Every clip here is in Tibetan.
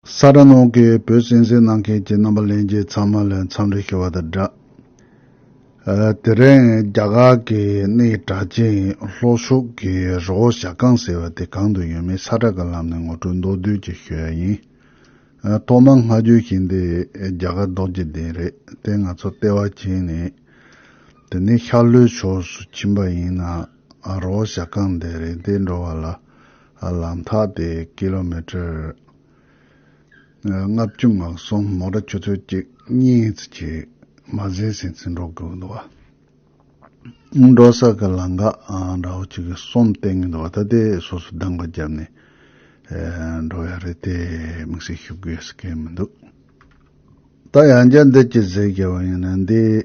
ས་དྲ་ནང་གི་བོད་སྲིད་འཛིན་གནང་མཁན་གྱི་རྣམ་པ་ལེན་རྗེས་ཚང་མ་ལ་འཚམས་འདྲི་ཞུ་བ་དང་སྦྲགས། དེ་རིང་རྒྱ་གར་གྱི་གནས་གྲགས་ཅན་ལྷོ་ཕྱོགས་ཀྱི་རི་བོ་ཞྭ་སྒང་ཟེར་བ་དེ་གང་དུ་ཡོད་མེད་ས་དྲ་གི་ལམ་ནས་ངོ་སྤྲོད་མདོར་བསྡུས་ཀྱིས་ཞུ་ཡ་ཡིན། ཐོག་མར་སྔ་འགྱོད་བཞིན་དེ་རྒྱ་གར་ལྡོག་རྒྱུ་དེ་རེད་དེ་ང་ཚོ་ལྟེ་བ་བྱས་ནས་དེ་ནས་ཤར་ལྷོའི་ཕྱོགས་སུ་ཕྱིན་པ་ཡིན་ན། རོ་བཞག་རྐང་འདེད་རིགས་འདེད་འགྲོ་བ་ལ་ལམ་ཐག་དེ་ཀི་ལོ་མི་ཀྲེར་ལྔ་བཅུ་ནག་གསུམ་མོ་ར་ཆུ་ཚོད་གཅིག་གཉིས་ཙི་གཅིག་མ་ཟིན་ཟིན་ཙི་འགྲོ་དགོས་འདུག་བ། འགྲོ་ས་གི་ལ་འགག་འདྲ་བོ་གཅིག་གསུམ་བསྟན་གི་འདུག་བ་ད་དེ་སོ་སོ་གདང་བ་རྒྱབ་ནས་འགྲོ་ཡ་རེད་དེ་དམིགས་བསལ་ཞུ་དགོས་ཟེར་མཁན་མི་འདུག་ད་ཡང་བརྒྱ་འདི་གཅིག་ཟེར་གི་བ་ཡིན་ན་འདི།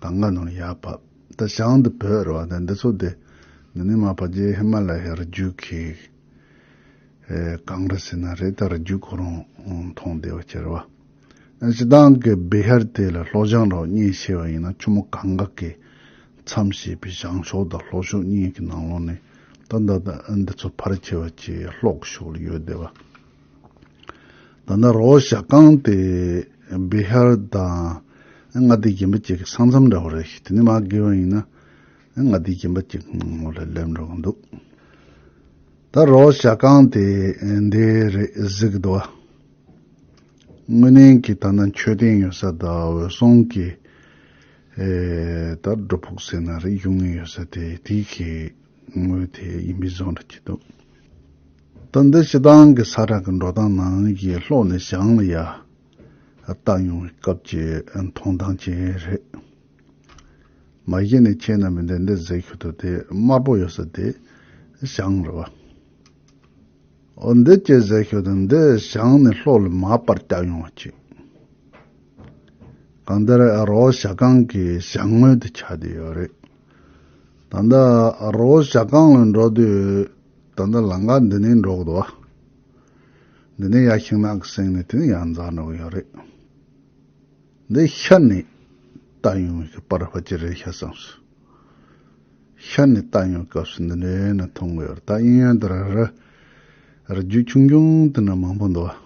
ད་ང་ནང་ཡར་བབས། ད་ཞང་འདི་བོད་རེད་བ་ད་འདི་ཚོ་དེ་འདི་ནི་མ་བ་རྗེ་ཧི་མ་ལ་ཡའི་རི་རྒྱུད་ཀྱི་གངས་རི་ཟེར་ན་རེད་ད་རི་རྒྱུད་ཁོ་རང་མཐོང་བདེ་བ་ཁྱེར་བ། སྤྱི་བཏང་གི་སྦི་ཧར་དེ་ལ་ལྷོ་ཞང་རོགས་གཉིས་ཕྱེ་བ་ཡིན་ན་ཆུ་མོ་གངས་འགག་གི་མཚམས་ཞེས་པའི་ཞང་ཞོགས་དང་ལྷོ་ཞོགས་གཉིས་ཀྱི་ནང་ལོགས་ནས་ད་འདི་ཚོ་ཕར་ཁྱེར་བ་ཅེས་ལྷོག་ཞོགས་ལ་ཡོད་བདེ་བ། ད་ནི་རོ་བཞག་བཀང་སྟེ་བི་ཧར་དང། མངའ་སྡེའི་རྒན་པ་གཅིག་གི་ས་མཚམས་རེ་བ་རེད། དེ་ནི་མ་དགེ་བ་ཡིན་ན། མངའ་སྡེའི་རྒན་པ་གཅིག་ངོ་ལ་སླེབས་འགྲོ་གི་འདུག། ད་རོ་བཞག་བཀང་སྟེ་འདི་རེད་གཟིགས་གདའ་བ། དངོས་གནས་ཀྱི་ད་ནི་མཆོད་རྟེན་ཡོད་ས་དང་འོད་སྲུང་གི་ད་སྒྲོ་ཕུག་ཟེར་ན་རེ་ཡུང་ངུ་ཡོད་ས་དེ་དེའི་གི་ངོས་དེ་ཡིན་པའི་བཟོ་འདྲ་གྱི་འདུག། ད་འདི་ཞེ་སྡང་གི་ས་བྲག་གི་འགྲོ་སྟངས་ནང་གི་ལྷོག་ནས་བཞག་ན་ཡ། བཏགས་ཡོང་བའི་སྐབས་ཀྱི་མཐོང་སྟངས་ཅན་རེད། མ་གཞི་ནས་ཁྱེད་རྣམས་པས་འདི་འདི་ཟེར་ཁྱོད་ཚོ་དེ་དམར་པོ་ཡོད་ས་དེ་བཞག་རེད་བ། འོ་འདི་སྐྱེས་ཟེར་ཁྱོད་ཚོ་འདི་བཞག་ནས་ལྷོག་ལ་མ་པར་བཏགས་ཡོང་བ་ཅིག། གང་ལྟར་རོ་བཞག་སྒང་གི་བཞག་དངོས་དེ་ཆགས་བསྡད་ཡོད་རེད། ད་འདི་རོ་བཞག་སྒང་ལ་འགྲོ་དུས། ད་ལྟ་ལང་ཀ་འདི་ནས་འགྲོ་གི་འདུག་བ། འདི་ནས་ཡར་ཕྱིན་ནག་གི་གསེང་ནས་དུས་ཡང་འཛག་འགྲོ་གི་ཡོད་རེད། འདི་ཤར་ནས་ལྟ་ཡོང་བའི་ཤི་པར་བ་ཅི་རེད་ཤ་བསམ་སོང། ཤར་ནས་ལྟ་ཡོང་སྐབས་སུ་འདི་འདྲའི་ནི་མཐོང་གི་ཡོད་རེད་ད་དབྱིན་ཡུལ་འདི་ར་ར་རི་རྒྱུད་ཆུང་ཆུང་དེ་འདྲ་མང་པོ་འདུག་བ།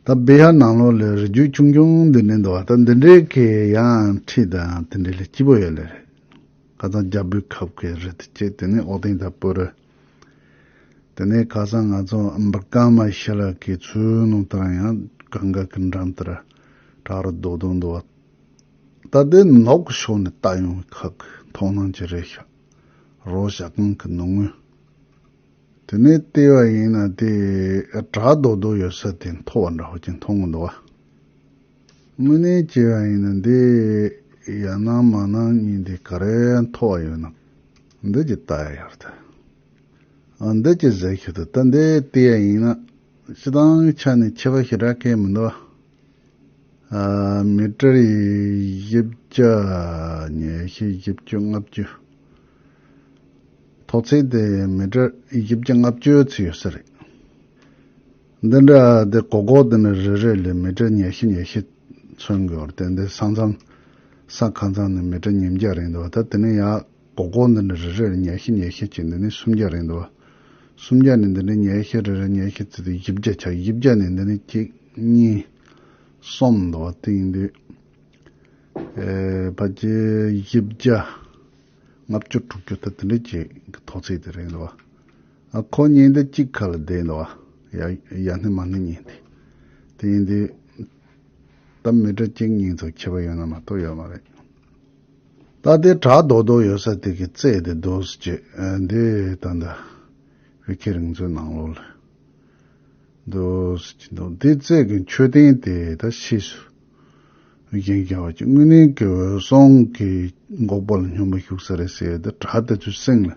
ད་བྷི་ཧ་ནང་ལོགས་ལས་རི་རྒྱུད་ཆུང་ཆུང་འདི་འདྲའི་འདུག་བ་ད་འདི་འདྲའི་གི་ཡང་ཁྲི་དང་དེ་འདྲའི་ལས་སྐྱིད་པོ་ཡོད་ལེ་རེད། ཁ་སང་རྒྱ་བོད་ཁ་བཀའི་རི་དུ་བཅས་དེ་ནས་ཨོ་ཏིང་དང་པོ་རུ། དེ་ནས་ཁ་སང་ང་ཚོ་འབུ་རྐང་མ་ཤི་ལ་ཀའི་ཚོའི་ནང་དུ་རང་ཡང་གང་ག་གི་འགྲམ་དུ་ར་བྲག་རུ་རྡོ་རྡོ་འདུ་བ། ད་ལྟའི་ནགས་ཀྱི་ཕྱོགས་ནས་བལྟ་ཡོང་བའི་ཁག་གི་མཐོང་སྣང་གྱི་རེ་ཞྭ་རོ་ཞྭ་གང་གི་ནུབ་ངོས། དེ་ནས་ལྟས་བ་ཡིན་ན་དེ་བྲག་རྡོ་རྡོ་ཡོད་ས་དེ་མཐོ་བ་འདྲ་བོ་ཅིག་མཐོང་གི་འདུག་བ། དངོས་གནས་སྐྱེ་བ་ཡིན་ན་འདི་ཡར་སྣང་མར་སྣང་གཉིས་འདི་ག་རེ་མཐོ་བ་ཡོད་ནམ། འདི་ཀྱི་རྟ་ཡར་དུ། ཨ་འདི་ཀྱི་ཟེར་ཤུལ་དུ་རྟ་འདི་ལྟེ་ཡ་ཡིན་ན། སྤྱི་དང་ཆ་ནས་ཁྱད་པ་ཞེ་དྲག་གས་མི་འདུག་ཨ། མི་ཀྲར་ཡི་བཞི་བརྒྱ་ཉེར་བཞི་བཞི་བཅུ་ལྔ་བཅུ། ཐོག་ཚད་དེ་མི་ཀྲར་བཞི་བརྒྱ་ལྔ་བཅུ་ཚུད་ཡོད་ས་རེད། འདི་འདྲ་དེ་གོ་གོ་དེ་ནི་རེ་རེ་ལས་མི་གྲལ་ཉེ་ཤི་ཉེ་ཤི་མཚོན་དགོས་རྟེན་དེ་ས་མཚམས་ས་ཁ་མཚམས་ནི་མི་གྲལ་ཉིས་བརྒྱ་རེད་འདུག་ད་དེ་ནི་ཡ་གོ་གོ་འདི་འདྲ་རེ་རེ་ལས་ཉེ་ཤི་ཉེ་ཤི་གཅིག་འདི་ནི་སུམ་བརྒྱ་རེད་འདུག་སུམ་བརྒྱ་ནི་འདི་འདྲའི་ཉེ་ཤི་རེ་རེ་ཉེ་ཤི་བརྩི་དུས་བཞི་བརྒྱ་ཆགས་བཞི་བརྒྱ་ནི་འདི་ནི་གཅིག་གཉིས་གསུམ་འདུག་དེང་དུས་ཨེ་བ་ཅི་བཞི་བརྒྱ་ལྔ་བཅུ་དྲུག་ཅུ་ད་དེ་འདྲའི་གཅིག་གི་ཐོག་ཚིག་དེ་རེད་འདུག། ཁོ་གཉིས་འདི་གཅིག་ཁ་ལ་བསྡད་འདུག་ཨ། ཡ་སྣེ་མ་སྣེ་གཉིས་འདི། དེ་ཡིན་དུས། ད་མི་དྲ་གཅིག་གཉིས་ཚོ་ཁྱི་པ་ཡོད་ན་མ་གཏོགས་ཡོད་མ་རེད། ད་ལྟའི་དྲ་རྡོག་རྡོག་ཡོད་ས་དེ་གི་རྩེད་དེ་སྡོད་སི་ཅི། འདི་ད་ལྟ། བྷི་ཁེ་རིང་ཚོའི་ནང་ལོགས་ལ། སྡོད་སི་ཅི་འདུག་འདི་རྩེད་གི་མཆོད་རྟེན་དེ་ད་ཕྱིས་སུ། བྷི་ཁེ་རྒྱལ་བ་ཅི་དངོས་གནས་གི་འོད་སྲུང་གི་འགོག་པ་ལ་སྙོམས་པ་ཞུགས་ས་རེད་ཟེར་ཡོད་དུས་དྲ་དེ་ཚོའི་སེང་ལ།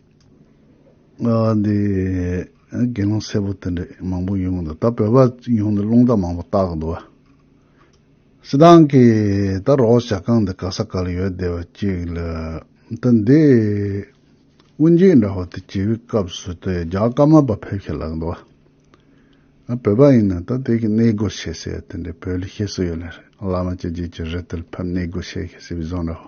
འདི་དགེ་སློང་སེར་པོ་དེ་འདྲས་མང་པོ་ཡོང་གི་འདུག་ད་བོད་པ་ཡོང་དུས་རླུང་རྟ་མང་པོ་བཏགས་འདུག་བ། སི་ཏང་གིས་ད་རོགས་བྱ་ཁང་འདི་ག་ས་ག་ལ་ཡོད་བསྡད་པ་གཅིག་ལ། ད་འདི་དབུ་འབྱེད་འདྲ་བོ་དེ་བྱེད་པའི་སྐབས་སུ་དེ་རྒྱ་དཀར་དམར་པ་ཕེབས་ཤིག་ལགས་འདུག་བ། བོད་པ་ཡིན་ན་ད་དེ་གི་གནས་སྒོ་ཕྱེ་ཟེར་ཡ་དེ་འདྲས་བོད་ལ་ཤེས་སུ་ཡོད་ལ་རེད་བླ་མ་ཅི་བྱེད་ཀྱི་རེད་དེ་ལ་ཕེབས་གནས་སྒོ་ཕྱེ་ཤིག་ཟེར་བའི་བཟོ་འདྲ་བོ།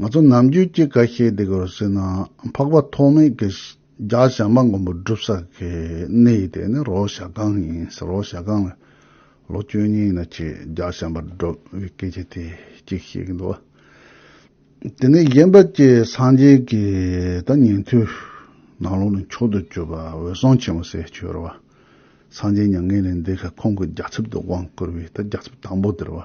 ང་ཚོ་ནམ་རྒྱུན་སྐྱེ་རྒ་ཤེས་འདི་གར་སྲིད་ན་འཕགས་པ་ཐོགས་མེད་ཀྱི་རྒྱ་ཞགས་མ་མགོན་པོ་སྒྲུབ་ས་ཀྱི་གནས་དེ་ནི་རོག་ཞགས་སྒང་ཡིན་ཟེར་རོག་ཞགས་སྒང་ལ་ལོ་བཅུ་གཉིས་ཡིན་ན་ཆེས་རྒྱ་ཞགས་མར་བསྒྲུབ་བའི་སྐད་ཆ་དེ་གཅིག་བཤད་ཀྱི་འདུག་དེ་ནས་གཞན་པ་ཀྱི་སངས་རྒྱས་ཀྱི་ད་ཉན་ཐོས་ནང་ལོགས་ནས་མཆོག་ཏུ་གྱུར་པ་འོད་སྲུང་ཆེན་མོ་སྲས་ཆོས་ར་བ་སངས་རྒྱས་མྱ་ངན་ལས་འདས་ཁར་ཁོང་གི་རྒྱ་ཚབ་ཏུ་དབང་བསྐུར་བའི་ད་རྒྱ་ཚབ་དང་པོ་དེར་བ།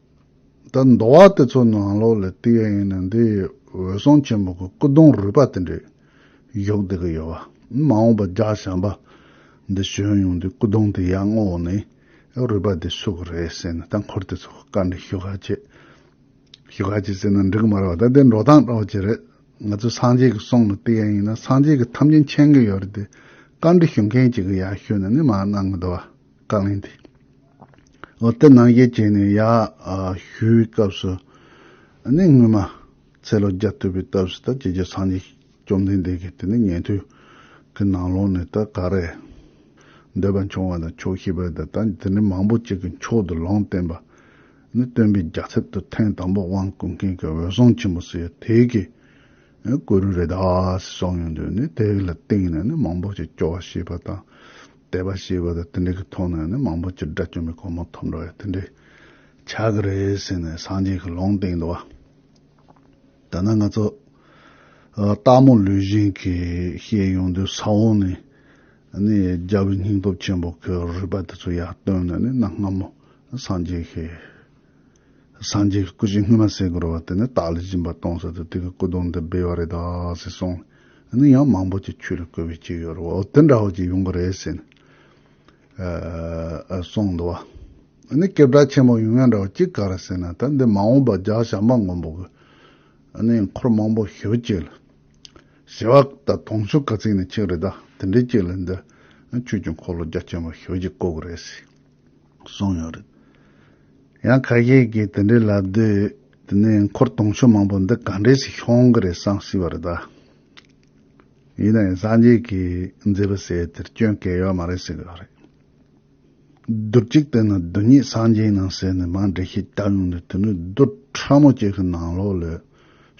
ད་མདོ་བ་དེ་ཚོ་ནང་ལོགས་ལས་བཏུས་ཡ་ཡིན་ན་འདི་འོད་སྲུང་ཆེན་པོ་གི་སྐུ་གདུང་རུས་པ་དེ་འདྲས་གཞོག་བསྡད་གི་ཡོད་བ། མ་འོངས་པ་རྒྱ་བྱམས་པ་འདི་བྱོན་ཡོང་དུས་སྐུ་གདུང་དེ་ཡར་སྔོག་ནས་རུས་པ་དེ་བསུ་གི་རེད་ཟེར་ནས་ད་འཁོར་དེ་ཚོ་བཀའ་འདྲི་ཞུ་ག་བྱེད། ཞུ་ག་བྱེད་ཟེར་ན་འགྲིག་གི་མ་རེད་བ་ད་དེ་འགྲོ་སྟངས་དྲག་བྱེད་རེད། ང་ཚོ་སངས་རྒྱས་ཀྱི་གསུང་ལ་བལྟས་ཡ་ཡིན་ན་སངས་རྒྱས་ཀྱི་ཐམས་ཅད་མཁྱེན་གི་ཡོད་རེད་དེ་བཀའ་འདྲི་ཞུ་མཁན་གཅིག་གི་ཡར་ཞུས་ནས་ནི་མ་གནང་གི་འདུག་བ། བཀའ་ལན་དེ་འོ་དེ་ནང་བཞིན་བྱས་ནས་ཡག་ཞུས་པའི་སྐབས་སུ་ནི་སྔོན་མ་ཚེ་ལོ་བརྒྱ་བསྟུད་པའི་སྐབས་སུ་ད་རྗེ་རྗེ་འཚང་རྒྱས་བཅོམ་ལྡན་འདས་ཀྱིས་དེ་ནི་ཉན་ཐོས་ཀྱི་ནང་ལོགས་ནས་ད་ག་རེ་འདོད་པ་འབྱུང་བ་དང་ཆོག་ཤེས་པ་དང་ད་དེ་ནི་མང་པོ་ཅིག་གི་མཆོག་ཏུ་ལོངས་བསྟན་པ་ནི་སྟོན་པའི་རྒྱ་ཚབ་ཏུ་ཐེངས་དང་པོ་དབང་བསྐུར་མཁན་གྱི་འོད་སྲུང་ཆེན་པོ་སུ་ཡོད་དེ་གི་གུ་རུ་རེ་དཱ་སི་སོགས་ཡོང་དུས་ནི་དེ་ལ་བརྟེན་ནས་ནི་མང་པོ་ཅིག་སྐྱོ་བ་བྱེད་པ་དང། དད་པ་ཞེས་པ་དེ་དེ་འདྲའི་གི་ཐོག་ནས་ནི་མང་པོ་སྤྱིར་དགྲ་བཅོམ་པའི་གོ་མ་ཐོབ་འགྲོ་བས་དེ་འདྲའི་ཆགས་ཀྱི་རེད་ཟེར་ནས་སངས་རྒྱས་ཀྱི་ལུང་སྟེང་དུ་བ་ད་ནི་ང་ཚོ་སྟག་མོ་ལུས་གཞན་གྱིས་བཤད་ཡོང་དུས་ས་འོག་ནས་ནི་རྒྱལ་བའི་སྙིང་སྟོབས་ཆེན་པོ་གི་རུས་པ་དེ་ཚོ་ཡར་བཏོན་ནས་ནི་གནའ་སྔ་མོ་སངས་རྒྱས་ཀྱི། སངས་རྒྱས་ཀྱི་སྐུ་བཞི་སྔོན་མ་སེ་གོལ་བ་དེ་ནི་བདག་ལས་སྦྱིན་པ་གཏོང་ས་དུ་དེ་གི་སྐུ་གདོང་འདི་སྦས་བ་རེད་ད་ཟེར་སོང། ནི་ཡང་མང་པོ་ཅིག་ཁྱོད་ལ་བསྐོས་པའི་ཅིག་ཡོད་རེད་བ་འོ་དེ་འདྲ་བ་ཅིག་ཡོང་གི་རེད་ཟེར་ནས་སོང་འདུག་བ། ནི་སྐྱེ་བྲག་ཆེན་པོ་ཡོང་ཡ་འདྲ་བ་ཅིག་ག་རེ་ཟེར་ན་ད་འདི་མ་འོངས་པ་ལྗགས་བྱང་པ་མགོན་པོ་གི་ནི་འཁོར་མང་པོ་ཞི་བ་ཅིག་ལ་ཞི་བ་ད་དོང་ཆོ་ག་ཚིག་ནི་ཅིག་རེད་ད་དེ་འདྲའི་ཅིག་ལ་འདི་ཁྱོད་ཀྱི་འཁོར་ལོ་རྒྱ་ཆེན་པོ་ཞི་བ་ཅིག་བསྐོ་གི་རེད་ཟེར། གསུངས་ཡོད་རེད། ཡང་ཁ་ཤས་ཀྱིས་དེ་འདྲའི་ལབ་དུས་དེ་ནས་འཁོར་གདོང་ཆུ་མང་པོ་འདི་ག་འདྲའི་ཞིག་ཤོང་གི་རེད་བསམ་སྲིད་པ་རེད་ད། ཡིན་ན་ཡང་སངས་རྒྱས་ཀྱིས་མཛད་པའི་སའི་དེར་སྐྱོན་གལ་ཡོད་མ་རེད་ཟེར་གི་རེད། རྡུལ་གཅིག་དེ་ནི་རྡུལ་སྙེད་སངས་རྒྱས་ནང་ཟེར་ནས་མང་འགྲེལ་བཤད་བརྒྱབ་ཡོང་དུས་དེ་ནི་རྡུལ་ཕྲ་མོ་གཅིག་གི་ནང་ལོགས་ལས།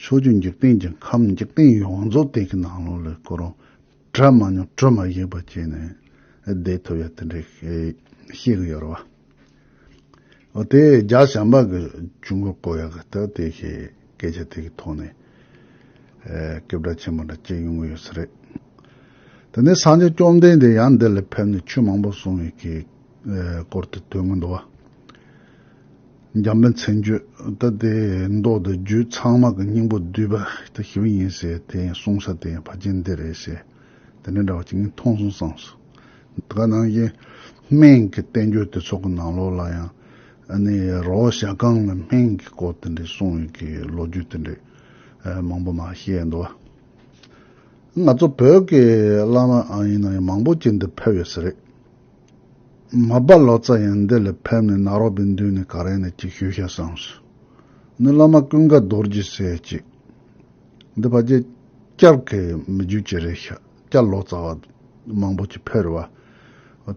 ཕྱོགས་བཅུ་འཇིག་རྟེན་གྱི་ཁམས་འཇིག་རྟེན་ཡོངས་རྫོགས་དེ་གི་ནང་ལོགས་ལས་གོ་རུང། གྲ་མ་མྱོང་གྲུ་མ་ཡིག་པ་བྱས་ནས་བསྡད་ཐུབ་ཡ་དེ་འདྲས་ཤེས་གི་ཡོད་རེད་བ། ཨོ་དེ་རྒྱ་ཞང་པ་གི་ཆུ་འགོ་བསྐོ་ཡག་གི་ཐུག་དེ་ཤེས་སྐད་ཆ་དེ་གི་ཐོག་ནས་སྐད་བརྡ་ཆེན་པོ་འདྲ་སྐྱེ་ཡོང་གི་ཡོད་ས་རེད། དེ་ནས་སངས་རྒྱས་བཅོམ་ལྡན་འདས་ཡང་འདི་ལ་ཕེབས་ནས་ཆོས་མང་པོ་གསུང་ཡོད་གི་སྐོར་དེ་ཐོས་གི་འདུག་བ། འཇམ་པའི་མཚན་བརྗོད་ལྟ་སྟེ་མདོ་དང་རྒྱུད་ཚང་མ་གི་སྙིང་པོ་བསྡུས་པ་དེ་ཞི་བ་ཡིན་ཟེར་དེ་ཡང་གསུང་ས་དེ་ཡང་ཕ་རྒྱན་འདི་རེད་ཟེར་དེ་འདྲ་འདྲ་བ་གཅིག་ངས་མཐོང་སོང་བསམ་སོང། དེ་ག་ནང་བཞིན་སྨན་གྱི་བསྟན་བཅོས་དེ་ཚོ་གི་ནང་ལོགས་ལ་ཡང་ཨ་ནི་རོ་ཞྭ་སྒང་ལ་སྨན་གྱི་སྐོར་དེ་འདྲའི་གསུང་ཡོད་ཀྱི་ལོ་རྒྱུས་དེ་འདྲའི་མང་པོ་མ་བཤད་འདུག་ཨ། ང་ཚོ་བོད་ཀྱི་བླ་མ་ཨང་ཡིན་ན་ཡང་མང་པོ་ཅིག་འདིར་ཕེབས་ཡོད་ས་རེད། མ་སྦ་ལོ་ཙཱ་ཡང་འདི་ལ་ཕེབས་ནས་ནག་རོག་པའི་མདུན་ནས་ག་རེ་ན་ཅིག་ཞུ་ཤག་བསམས་སོ། ནི་བླ་མ་ཀུན་དགའ་རྡོར་རྗེ་སེ་ཅིག། འདི་བ་རྗེ། སྐྱར་ཁས་མི་འཇུ་ཅི་རེད་ཤག་སྐྱར་ལོ་ཙཱ་བ། མང་པོ་ཅིག་ཕེར་བ།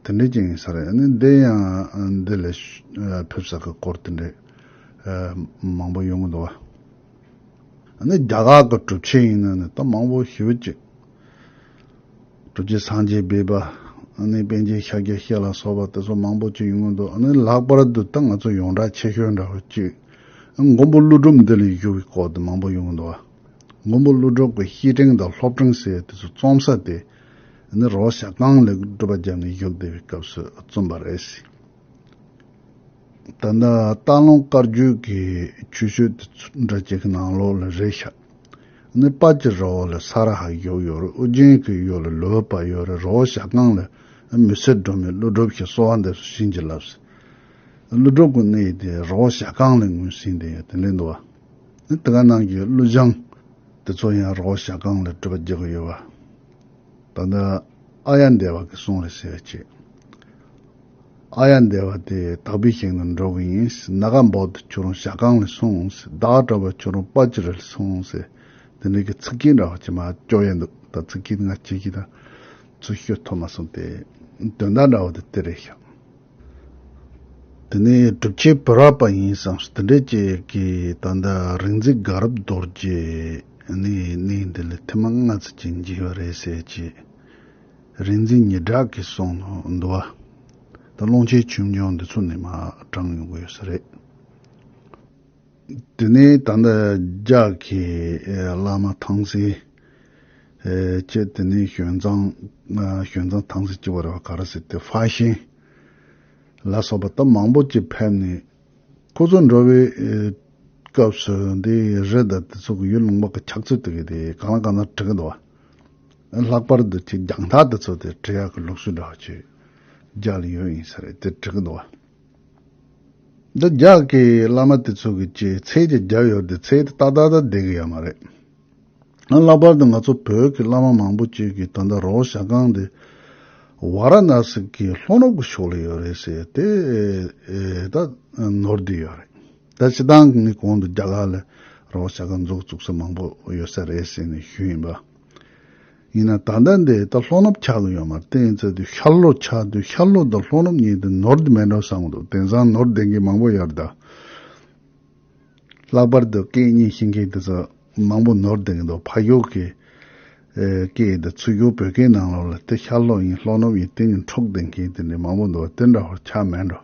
དེ་འདྲས་ཅིག་ཡིན་ས་རེད་ནི་འདི་ཡང་འདི་ལ། ཕེབས་ས་གི་སྐོར་དེ་འདྲས། མང་པོ་ཡོང་གི་འདུག་བ། ནི་རྒྱ་གར་གི་གྲུབ་ཆེན་ཡིན་ན་ནི་ད་མང་པོ་ཞུ་ཅིག། གྲུབ་ཀྱི་སངས་རྒྱས་སྦས་པ། ནི་དཔལ་གྱི་ཤཱཀྱ་ཤྲཱི་ལ་སོགས་པ་དེ་ཚོ་མང་པོ་བྱུང་ཡོང་གི་འདུག་ནི་ལྷག་པར་དུ་ད་ང་ཚོ་ཡོངས་གྲགས་ཆེ་ཤོས་འདྲ་བོ་གཅིག་མགོན་པོ་ཀླུ་སྒྲུབ་འདི་ལས་བཞུགས་པའི་སྐོར་དུ་མང་པོ་ཡོང་གི་འདུག་བ། མགོན་པོ་ཀླུ་སྒྲུབ་ཀྱི་གཤིས་སྤྲིང་དང་ལྷོབ་སྤྲིང་ཟེར་བ་དེ་ཚོ་རྩོམ་ས་དེ་ནི་རོ་ཤ་རྐང་ལས་སྒྲུབ་པ་རྒྱབ་ནས་བཞུགས་བསྡད་པའི་སྐབས་སུ་རྩོམ་པ་རེད། ད་ལྟ་སྟག་ལུང་དཀར་རྒྱུད་ཀྱི་ཆུ་ཤོད་དེ་ཚོ་འདྲ་གཅིག་གི་ནང་ལོགས་ལ་རེ་ཤག་ནི་དཔའ་ཀྱི་ར་བ་ལ་ས་ར་ཧ་གཡོག་ཡོད་རེ་ཨུ་རྒྱན་གྱི་གཡོག་ལ་ལུས་པ་ཡོད་རེ་ར་བ་ཞག་རྐང་ལ་མི་སེར་སྒྲོན་མའི་ཀླུ་སྒྲུབ་ཞེས་གསོལ་བ་འདེབས་སུ་བྱིན་གྱིས་བརླབས་སོ། ཀླུ་སྒྲུབ་ཀྱི་གནས་དེ་ར་བ་ཞག་རྐང་ལས་ངོས་ཟིན་ཏེ་ཡོད་དེ་ལས་འདུ་བ་ནི་དེ་ག་ནང་གི་ཀླུ་བྱང་དེ་ཚོ་ཡང་ར་བ་ཞག་རྐང་ལས་སྤྲུལ་པ་རྒྱག་གི་ཡོད་བ། ད་ལྟ་ཨ་ཡ་འདས་བ་གི་གསུང་ལ་ཟེར་བ་ཆེ། ཨ་ཡ་འདས་པ་དེ་དག་པའི་ཞིང་དུ་འགྲོ་གི་ཡིན། ནཱ་ག་འབའ་དུ་ཁྱོད་རང་ཞག་གང་ལས་སོང། བདག་སྤྲ་བ་ཁྱོད་རང་དཔའ་ཅི་རིལ་སོང། དེ་འདྲ་གི་ཚིག་རྒྱན་འདྲ་བ་ཅི་མ་ཅོ་ཡལ་འདུག་ད་ཚིག་རྒྱན་ང་ཅི་ཞིག་དང་ཚུར་ཤོད་ཐོབ་མ་སོང་སྟེ། དོན་དག་འདྲ་བ་དེ་དེ་རེད་ཤག། དེ་ནས་སྒྲུབ་ཆེན་བོད་རག་པ་ཡིན་བསམ་སོང་དེ་འདྲས་ཅིག་གིས་ད་ལྟ་རིག་འཛིན་དགའ་རབ་རྡོར་རྗེ་ནི་གནས་འདི་ལ་ཐེངས་མ་ལྔ་ཚུད་ཅིག་འཇིགས་པ་རེད་ཟེར་ཅིག། རིག་འཛིན་ཉི་གྲགས་ཀྱི་གསུང་ནོ་འདུལ་བ། དང་ཀློང་ཆེན་ཆོས་འབྱུང་འདི་ཚོ་ནས་མ་དྲངས་ཡོང་གི་ཡོད་ས་རེད། དེ་ནས་ད་ལྟ་རྒྱ་གི་བླ་མ་ཐང་སི་བཅས་དེ་ནས་ཞོན་ཙང་ཞོན་ཙང་ཐང་སི་བཅས་བ་རེ་བ་ག་རེ་ཟེར་དེ་ཧྥ་ཤན་ལ་སོགས་པ་ད་མང་པོ་བཅས་ཕེབས་ནས་ཁོ་ཚོ་འགྲོ་བའི་སྐབས་སུ་འདི་རི་དང་དེ་ཚོ་གི་ཡུལ་ལུང་པ་གི་ཆགས་ཚུལ་དེ་ག་དེ་གང་ལ་གང་འཚམ་བྲི་གི་འདུག་བ། ལྷག་པར་དུ་ཁྱེད་རྒྱང་ཐག་ཏུ་ཚུད་དེ་འཕྲལ་ཡག་གི་ལུགས་སྲོལ་འདྲ་བྱས་རྒྱག་ལེ་ཡོད་ཡིན་ས་རེད་དེ་འགྲིག་གི་འདུག་བ། འདི་རྒྱག་གི་བླ་མ་དེ་ཚོ་གི་ཅེས་ཚེས་ཀྱི་རྒྱབ་ཡོར་དེ་ཚེས་དེ་ཏག་ཏག་ཏག་བསྡད་གི་ཡོད་མ་རེད། ཡང་ལྷག་པར་དུ་ང་ཚོ་བོད་ཀྱི་བླ་མ་མང་པོ་གཅིག་གིས་ད་ལྟ་རོགས་ཞྭ་ཁང་དེ་བྷ་ར་ནཱ་སི་ཀི་ལྷོ་ནུབ་ཀྱི་ཕྱོགས་ལ་ཡོད་རེད་ཟེར་དེ་ད་ནོར་བསྡད་ཡོད་རེད། ད་ཕྱི་དང་གི་གོང་དུ་རྒྱ་གར་ལ་རོགས་ཞྭ་ཁང་འཛུགས་བཙུགས་ས་མང་པོ་ཡོད་ས་རེད་ཟེར་ནས་ཞུས་ཡིན་པ། ཡིན་ན་ད་ལྟ་འདི་ལྟ་ལྷོ་ནུབ་འཁྱག་ལོ་ཡོད་མར་བསྟན་ཡོད་ཚད་དུས་ཤར་ལྷོ་འཁྱག་དུས་ཤར་ལྷོ་དང་ལྷོ་ནུབ་གཉིས་དུ་ནོར་དུ་མེད་འགྲོ་བསམ་འདུག་དེང་སང་ནོར་ལྡན་མཁན་མང་པོ་ཡོད་དཱ། ལྷག་པར་དུ་སྐད་གཉིས་ཤེས་མཁན་དེ་ཚོ་མང་པོ་ནོར་ལྡན་གྱི་འདུག་ཕ་ཡུལ་གྱི་སྐད་ཡིན་དཱ་ཚུལ་སྒྱུར་བོད་སྐད་ནང་ལོགས་ལ་དེ་ཤར་ལྷོ་ཡིན་ལྷོ་ནུབ་ཡིན་དེ་གཉིས་འཕྲོག་བསྡད་མཁན་དེ་འདྲ་མང་པོ་འདུག་དེ་འདྲ་བར་འཁྱག་མེད་འགྲོ།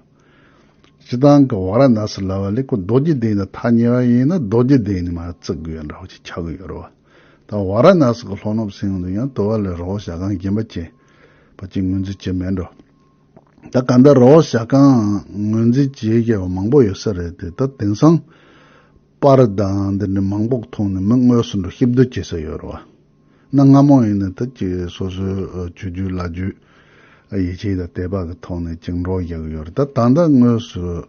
སྤྱི་བཏང་གི་བ་ར་ནཱ་སི་ལ་བ་ལི་ཀོ་རྡོ་རྗེ་གདན་དང་ཐག་ཉེ་བ་ཡིན་ན་རྡོ་རྗེ་གདན་ནི་མ་བརྩིགས་གི་ཡོད་འདྲ་བ་ཞིག་འཁྱག་གི་ཡོད་རོ། དང་ཝཱ་ར་ནཱ་སི་ཀའི་ལྷོ་ནུབ་སེང་དུ་ཡང་དུ་བ་ལའི་རི་བོ་ཞྭ་སྒང་རྒྱན་པ་ཅན་པ་གཅིག་ངོས་འཛིན་བྱེད་མེད་འགྲོ། ད་ག་འདྲ་རི་བོ་ཞྭ་སྒང་ངོས་འཛིན་བྱེད་མཁས་པ་མང་པོ་ཡོད་ས་རེད་དེ་ད་དེང་སང་པ་རི་དང་འདི་འདྲའི་མང་པོག་མཐོང་ནས་མི་དངོས་སུ་འགྲོ་ཤི་བསྡོད་བྱེད་ས་ཡོད་རེད་བ། གནའ་སྔ་མོ་ཡིན་ན་ད་ཅིག་སོ་སོའི་ཆོས་བརྒྱུད་བླ་བརྒྱུད་ཡིད་ཆེས་དང་དད་པ་གི་ཐོག་ནས་ཅིག་འགྲོ་བཞག་གི་ཡོད་རེད་ད་ད་ལྟ་དངོས་སུ།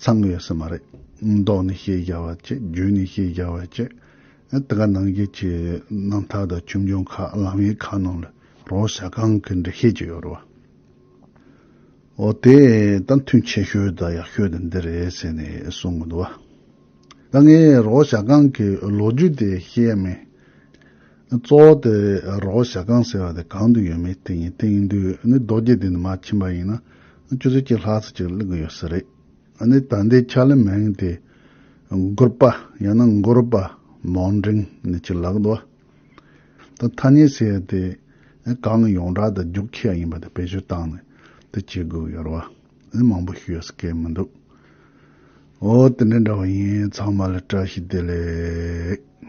ཚང་ཡོད་ས་མ་རེད། མདོག་ནས་ཤེས་རྒྱ་བ་ཅི་རྒྱུད་ནས་ཤེས་རྒྱ་བ་ཅི། དེ་ག་ནང་རྒྱལ་ཁྱི་རྣམ་ཐར་དང་ཆོས་འབྱུང་ཁ་ལམ་ཡིག་ཁག་ནང་ལ་རོགས་ཞྭ་གང་གི་འབྲི་ཤེས་ཀྱི་ཡོད་རེད་བ། འོ་དེ་ད་མཐུན་ཆེ་ཤོས་དང་ཡག་ཤོས་དེ་འདི་རེད་ཟེར་ནས་གསུང་གི་འདུག་བ། ད་ངས་རོགས་ཞྭ་གང་གི་ལོ་རྒྱུས་དེ་ཤེས་ཡ་མེད། གཙོ་བོ་དེ་རོགས་ཞྭ་གང་ཟེར་བ་དེ་གང་དུ་ཡོད་མེད་དེ་ཡིན་དེ་ཡིན་དུས་ནི་རྡོ་རྗེ་དེ་ནི་མ་ཕྱིན་པ་ཡིན་ན་ཆུ་ཚོད་གཅིག་ལྷག་ཚེ་གཅིག་གླིང་གི་ཡོད་ས་རེད། ནི་ད་ལྟའི་ཆར་ལི་མེང་དེ་མགུར་པ་ཡང་ན་མགོ་རུ་པ་མོང་འབྲིང་ནི་གཅིག་ལགས་འདུག་དང་ཐ་སྙད་ཟེར་བ་དེ་གང་གི་ཡོངས་གྲགས་དང་རྒྱུགས་ཁྱི་ཡ་ཡིན་པ་དེ་བེད་སྤྱོད་བཏང་ནས་དེ་བྱེད་དགོས་ཡོད་རེད་བ་ནི་མང་པོ་ཞུ་ཡོད་ས་སྐད་མི་འདུག་འོ་དེ་འདྲ་འདྲ་བ་ཡིན་ཚང་མ་ལ་བཀྲ་ཤིས་བདེ་ལེགས།